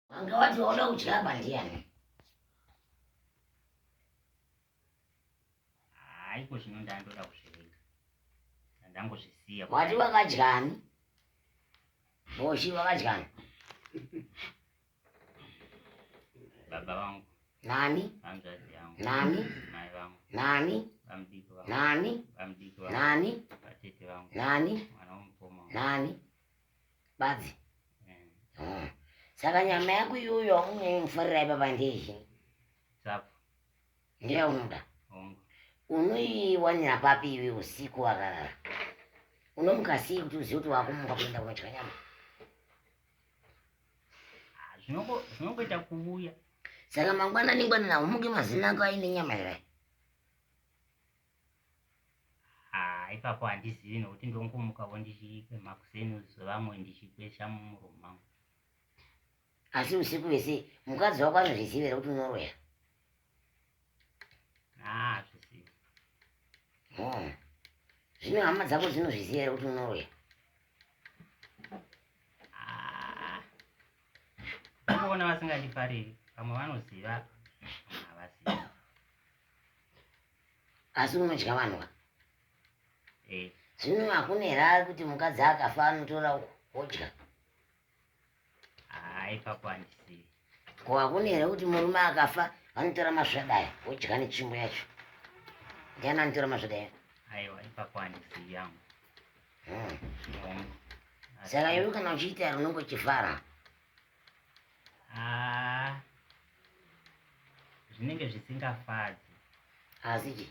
Wange wati wauda kudya apa ndiyani? Haiko zvino ndandoda kuzviringa. Ndangozvisiya. Wati wakadyani? Boshi wakadyani? Baba vangu. Nani? Hanzvadzi yangu. Nani? Mai vangu. Nani? Bamdiki vangu. Nani? Bamdiki vangu. Nani? Vatete vangu. Nani? Mwana womukoma. Nani? badzi Ah. saka nyama yako iyoyo aunyanyi kufarira ipapa ndezvi Sapo. ndeyaunoda Hongu. unoiwanira papi iwe usiku wakarara unomuka sei kuti uzive kuti wakumuka kuenda kunodya nyama Ah, zvinongo- Zvinongoita kuuya. saka mangwanani ngwanana umuke mazino ako aine nyama here Ah, ipapo handizivi nokuti ndongomukavo ndichikwema kuseni zvevamwe ndichikwesha mumuromo mangu. Asi usiku vese mukadzi wako anozviziva here kuti unoroya? Ah, hazvizivi. Oh. Zvino hama dzako dzinozviziva here kuti unoroya? Ah. Ndikuona vasingandifariri, vamwe vanoziva, vamwe havasivi. asi unodya vanhu ka eh. zvino hakuna here ari kuti mukadzi akafa anotora odya ah, ipapo handisi ko hakuna here kuti murume akafa anotora masvadaya odya netsvimbo yacho ndiani anotora masvadaya aiwa ipapo handisi yangu hmm. hmm. saka iwe kana uchiita runongo chifara ah. zvinenge zvisingafadzi asi chi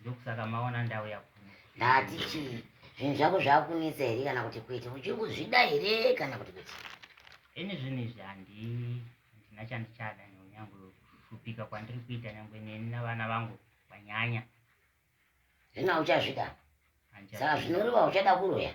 ndokusaka maona ndauya kuno ndati chi zvinhu zvako zvakunetsa here kana kuti kuita uchiri kuzvida here kana kuti kuti ini zvinhu izvi handi handina chandichada nyange kushupika kwandiri kuita nyange neni navana vangu kwanyanya zvino uchazvida saka zvinoreva uchada kuroya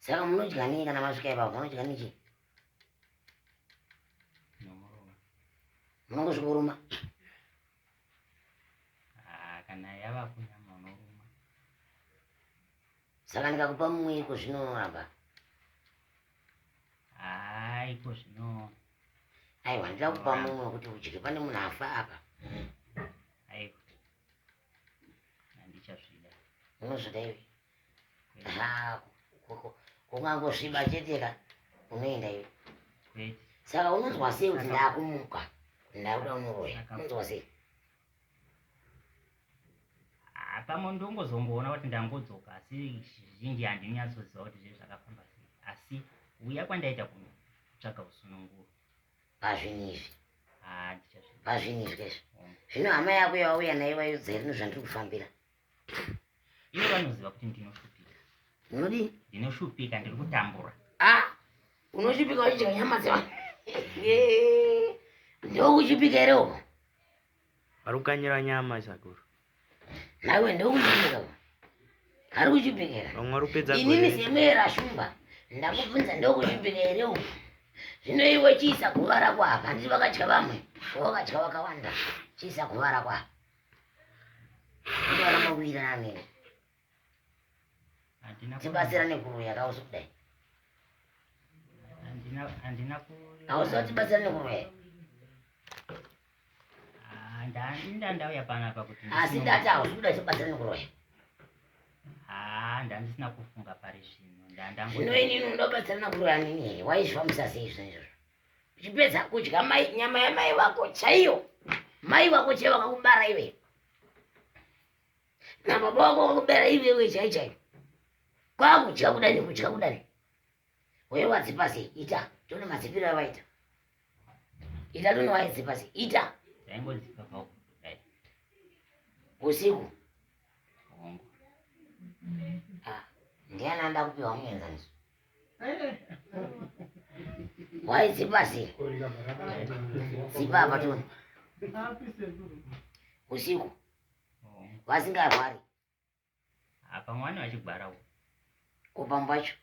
Saka munodya nei kana masvika ipapo munodya nechi? Munongosvika kuruma. Ah, kana yava kunyama unoruma. Saka ndikakupa mumwe iko zvino unoramba. Ah, iko zvino. Aiwa ndida kupa mumwe kuti udye pane munhu afa apa. Aiwa. Handichazvida. Unozvida iwe. kungangosviba chete ka unoenda iwe saka unonzwa sei kuti ndakumuka ndakuda unoroya unonzwa sei pamwe ndongozongoona kuti ndangudzoka asi zvizhinji handinyatsoziva kuti zve zvakafamba sei asi uya kwandaita kunotsvaga usununguro pazvinhu izvi pazvinhu izvi izvi zvino hama yako yawauya nayo vaiudza rinhu zvandiri kufambira ivo vanoziva kuti ndinoshupika unodii ndinoshupika ndiri kutambura ah, unoshupika uchidya nyama dzevanhu ndokushupika here uko ari kukanyira nyama isakuru naiwe ndokushupika uko ari kushupika here vamwe vari kupedza inini semwera shumba ndakubvunza ndokushupika here uko zvino iwe chiisa guva rako apa handiti vakadya vamwe vakadya vakawanda chiisa guva rako apa Mawirane. Handina tibatsirane kuroya kausi kudai. Handina handina kuroya. Kausi tibatsirane kuroya. Ah, Ndanda ndauya panapa kuti asi ndati hausi kuda tibatsirane kuroya. Ah, ndandisina kufunga pari zvino. Ndanda. Zvino ini ndobatsirana kuroya nini? Waizvifambisa sei zvinhu izvozvo? uchipedza kudya mai nyama yamai vako chaiyo mai vako chaiyo vakakubara iwe nababa vako vakakubera iwewe chai chai kwakudya kudani kudya kudani wewe wadzipa sei ita tone madzipiro avaita ita tone waidzipa sei ita usiku ndiani anda kupiwa muenzaniso Why zipa si? Zipa hapa tu. Usiku. Vasingarwari. Apa mwana wachigwara uko. Kupamba cho.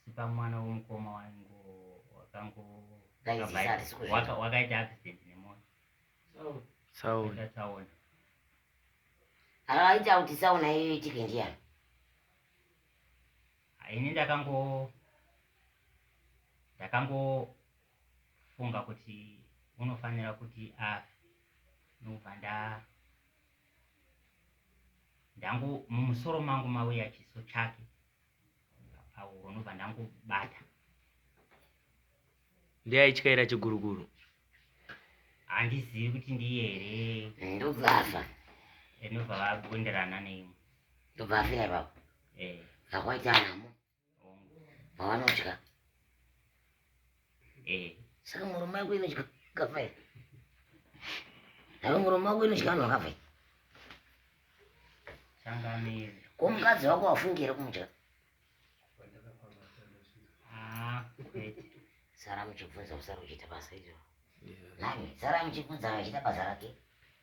Sipa mwana wemukoma wangu wakango wakaita accident nemota tsaona tsaona akaita kuti tsaona iyo itike ndiyani ini ndakango ndakangofunga kuti unofanira kuti afe ndobva nda ndangu mumusoro mangu mauya chiso chake pahuro ndobva ndangobata ndeyaityaira chiguruguru handizivi kuti ndiye here ndobva afa ndobva vagonderana neimwe ndobva afira ipapo zvakwaita eh. nhamo pavanodya Eh, saka muromo yako inodya kava here? Saka muromo wako inodya vanhu vakava here? Changamire. Ko mukadzi wako wafungi here kumudya? Ah, kwete. Sara muchibvunza kusara kuchiita basa iro. Nani, sara muchibvunza achiita basa rake.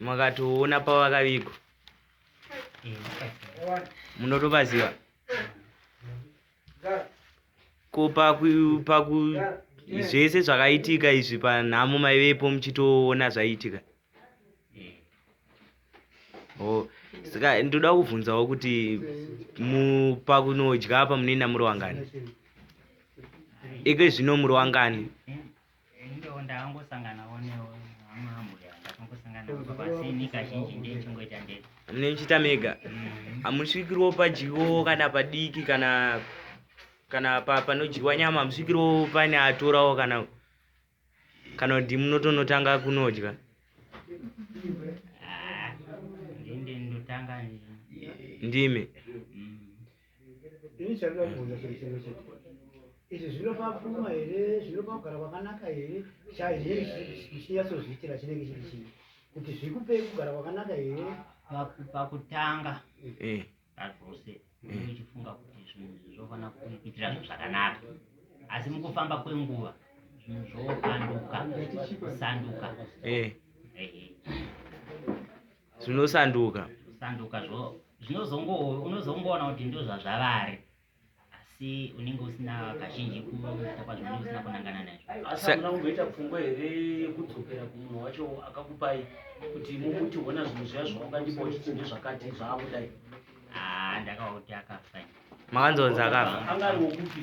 makatoona pavakavigwa munotovaziva ko paku zvese zvakaitika izvi panhamo maivepo muchitoona zvaiitika oh, saka ndoda kuvhunzawo kuti pakunodya apa munoenda muri wangani iko zvino muri wangani Ndo ndakangosanganawo neamambuya ndakangosangana baba asi ini kazhinji ndechingoita ndega. Munochita mega. Mm. Hamusvikirwo padyiwo kana padiki kana kana pa panodyiwa nyama hamusvikirwo pane atorawo kana kana kuti munotonotanga kunodya. Ah, ndimi. Mm. Ini chandinoda kubvunza chiri chimwe chete. Izvi zvinopa pfuma here, zvinopa kugara kwakanaka here, chaiye chichinyatsozviitira chinenge chiri chii? Kuti zvikupei kugara kwakanaka here? Paku- pakutanga Eh. pazvose unenge uchifunga kuti zvinhu izvi zvofanira kuitira zvinhu zvakanaka asi mukufamba kwenguva zvinhu zvopanduka kusanduka Eh. Ehe. zvinosanduka sanduka zvo zvinozongo unozongoona kuti ndozvazvavari asi unenge usina kazhinji kuita kwazvinenge usina kunangana nazvo asi hamuna kumboita pfungwa here yekudzokera kumunhu wacho akakupai kuti mumuti hona zvinhu zviya zvaungandipa uchiti ndezvakati zvaakudai haa ndakawa kuti akafa makanzonzi akafa anga ari wokupi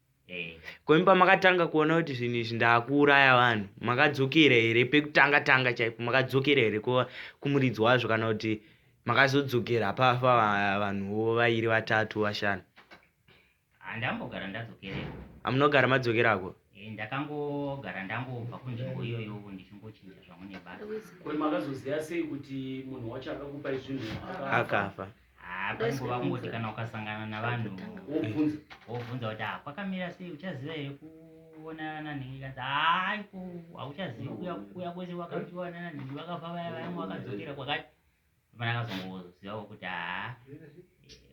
Eh. ko imi pamakatanga kuona kuti zvinhu izvi ndakuuraya vanhu makadzokera here pekutanga tanga chaipo makadzokera here kumuridzi wazvo kana kuti makazodzokera pafa vanhuwo vairi vatatu vashanu handambogara ndadzokereko amunogara madzokerako eh, ndakangogara ndangobva kunzvimbo iyoyo ndichingochinja zvangu nebasa ko makazoziva sei kuti munhu wacho akakupai zvinhu akafa Ah, panguva kungoti kana ukasangana navanhu wobvunza kuti ah, kwakamira sei uchaziva here kuonana nhingi kanzi hayi ko hauchazivi kuya kwese wakaonana nhingi vakabva vaya vaya wakadzokera kwakati fana akazongozivawo kuti haa ah,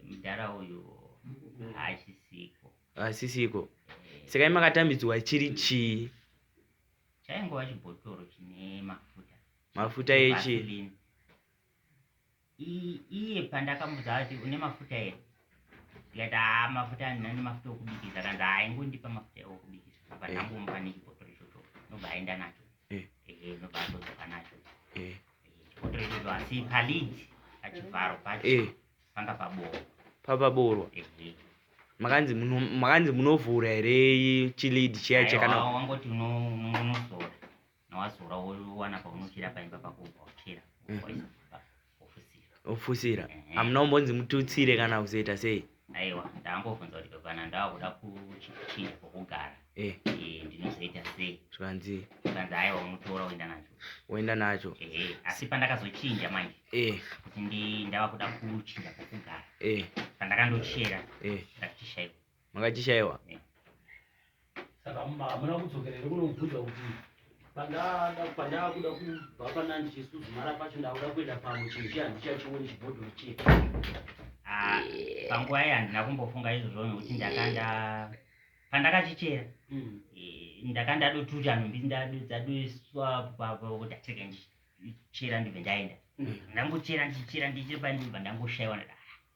mudhara uyu haasisiko haasisiko eh. saka imakatambidzwa chiri chii chaingova chibhotoro chine mafuta mafuta echii iye pandakamudza kuti une mafuta here ndikati haa mafuta andina nemafuta okubikisa kanzi haa ingondipa mafuta okubikisa apa ndangomupa nechibhotoro ichocho nobva aenda nacho eh. ehe nobva atodzoka nacho eh. chibhotoro ichocho asi palid pachivharo pacho eh. panga paboorwa papaboorwa makanzi makanzi munovhura here chilid chiya chakana wangoti unozora nawazora wowana paunofira paimba pako ubva uchera mm. ofusira amuna umbonzi mututsire kana kuzoita sei aiwa ndambobvunza kuti kana ndakuda kuchinja kwokugara eh. eh, ndinozoita sei zvikanzi zvikanzi aiwa unotora woenda nacho woenda nacho eh, asi pandakazochinja manje kuti ndava kuda kuchinja kwokugara pandakandochera ndakutishaiwa makachishaiwa saka hamuna kudzokera here kunobvunza kuti pandaakuda kubva panandichisuzumara pacho ndakuda kuenda pamwe chinhu chiya handichachioni chibhodhoro chiya ah, panguva iyi handina kumbofunga izvozvo nekuti ndakanda pandakachichera hmm. eh, ndakandadotuti anhumbi dzadoswa kuti ateke ndichera ndibve ndaenda hmm. ndangochera ndichera ndichira pandibva ndangoshayiwa ndaa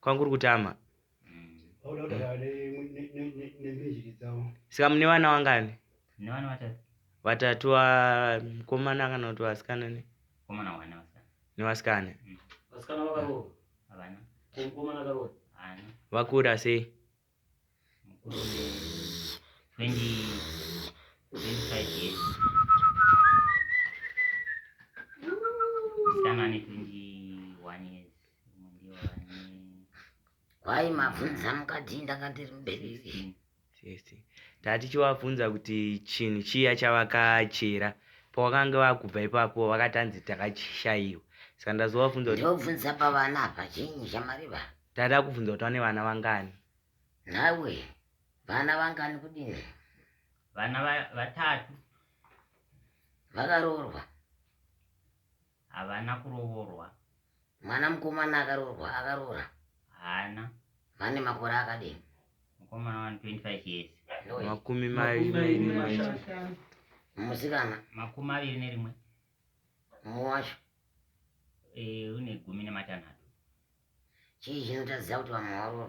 kwangu uri kutama saka mune vana wangani vatatu vakomana ah, kana kuti vasikana ne nevasikana vakura sei Why mabvunza mukadzi ndakandiri mubereki? Tatichivabvunza kuti chinhu chiya chavakachera pavakange vakubva ipapo vakatanzi takachishaiwa saka ndazovabvunza kuti ndobvunza pavana apa chinyi chamariva Dada akubvunza kuti vane vana vangani. Nawe vana vangani kudini? Vana va- vatatu Vakaroorwa. havana kurovorwa. Mwana mukomana akaroorwa akaroora. Haana. Vane makore akadini? Mukomana wani 25 years. Noi. Makumi Makumi maviri mairi mashanu. mashanu. Musikana Makumi maviri nerimwe. Mumwe wacho e, une gumi nematanhatu. Chii chinotaridza kuti vamwe varoorwa?